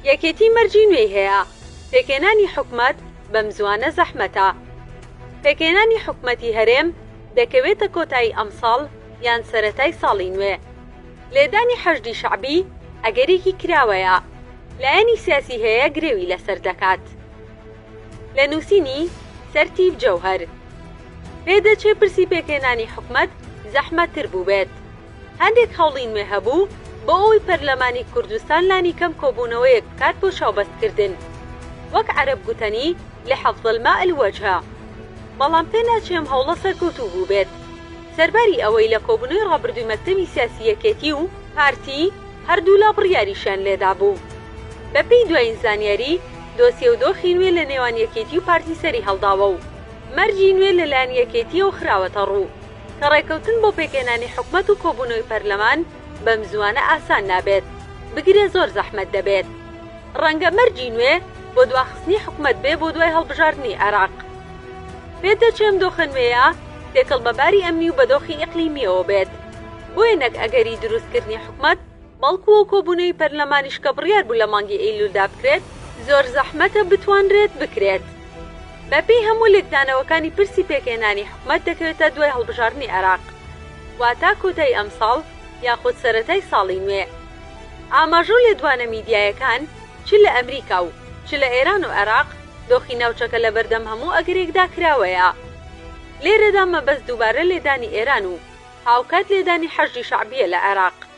یەکێتی مەرجی نوێی هەیە. پێکهێنانی حکومەت بەمزوانە زەحمەتە. پێکهێنانی حکومەتی هەرێم دەکەوێتە کۆتایی ئەمساڵ یان سەرەتای ساڵی نوێ. لێدانی حەشدی شەعبی ئەگەرێکی کراوەیە. لایەنی سیاسی هەیە گرێوی لەسەر دەکات. لە نووسینی، سەرتیپ جەوهەر. پێدەچێ پرسی پێکهێنانی حکومەت زەحمەتتر بووبێت. هەندێک هەوڵی نوێ هەبوو بۆ ئەوەی پەرلەمانی کوردستان لانیکەم کۆبوونەوەیەک بکات بۆ چاوبەستکردن وەک عەرەب گوتەنی لحفظ الماء الوجه بەڵام پێناچێ ئەم هەوڵە سەرکەوتوو بووبێت سەرباری ئەوەی لە کۆبوونەوەی ڕابردووی مەکتەبی سیاسی یەکێتی و پارتی هەردوولا بڕیاریشیان لێدابوو. بەپێی دوایین زانیاری دۆسیە و دۆخی نوێ لە نێوان یەکێتی و پارتی سەریهەڵداوە و مەرجی نوێ لەلایەن یەکێتییەوە خراوەتەڕوو. کە ڕێکەوتن بۆ پێکهێنانی حکومەت و کۆبوونەوەی پەرلەمان بەمزووانە ئاسان نابێت، بگرە زۆر زەحمەت دەبێت. ڕەنگە مەرجی نوێ بۆ دواخستنی حکومەت بێ بۆ دوای هەڵبژاردنی عێراق. پێت دەچێ ئەم دۆخە نوێیە تێکەڵ بە باری ئەمنی و بەدۆخی ئیقلیمییەوە بێت. بۆیە نەک ئەگەری دروستکردنی حکومەت، بەڵکو و کۆبونەوی پەرلەمانیش کە بڕیار بوو لە مانگی ئەیلولدا بکرێت، زۆر زەحمەتە بتوانرێت بکرێت. بە پێی هەموو لێکدانەوەکانی پرسی پێکهێنانی حکومەت دەکەوێتە دوای هەڵبژاردنی عێراق، واتە کۆتایی ئەمساڵ یاخود سەرەتای ساڵی نوێ. ئاماژە و لێدوانە میدیایەکان چ لە ئەمریکا و چ لە ئێران و عێراق دۆخی ناوچەکە لە بەردەم هەموو ئەگەرێکدا کراوەیە. لێرەدا مەبەست دووبارە لێدانی ئێران و هاوکات لێدانی حەشدی شەعبیە لە عێراق.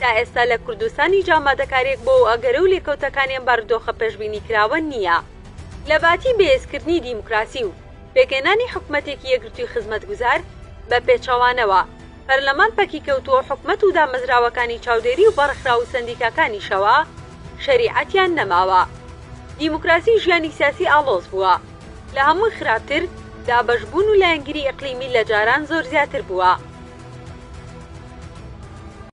تا ئێستا لە کوردستان هیچ ئامادەکارییەک بۆ ئەگەرە و لێکەوتەکانی ئەم بارودۆخە پێشبینیکراوە نییە. لە باتی بەهێزکردنی دیموکراسی و پێکهێنانی حکومەتێکی یەکگرتووی خزمەتگوزار، بە پێچەوانەوە، پەرلەمان پەکیکەوتووە و حکومەت و دامەزراوەکانی چاودێری و بەڕێکخراو و سەندیکاکانیشەوە شەریعەتیان نەماوە. دیموکراسی ژیانی سیاسی ئاڵۆز بووە. لە هەمووی خراپتر، دابەشبوون و لایەنگیری ئیقلیمی لە جاران زۆر زیاتر بووە.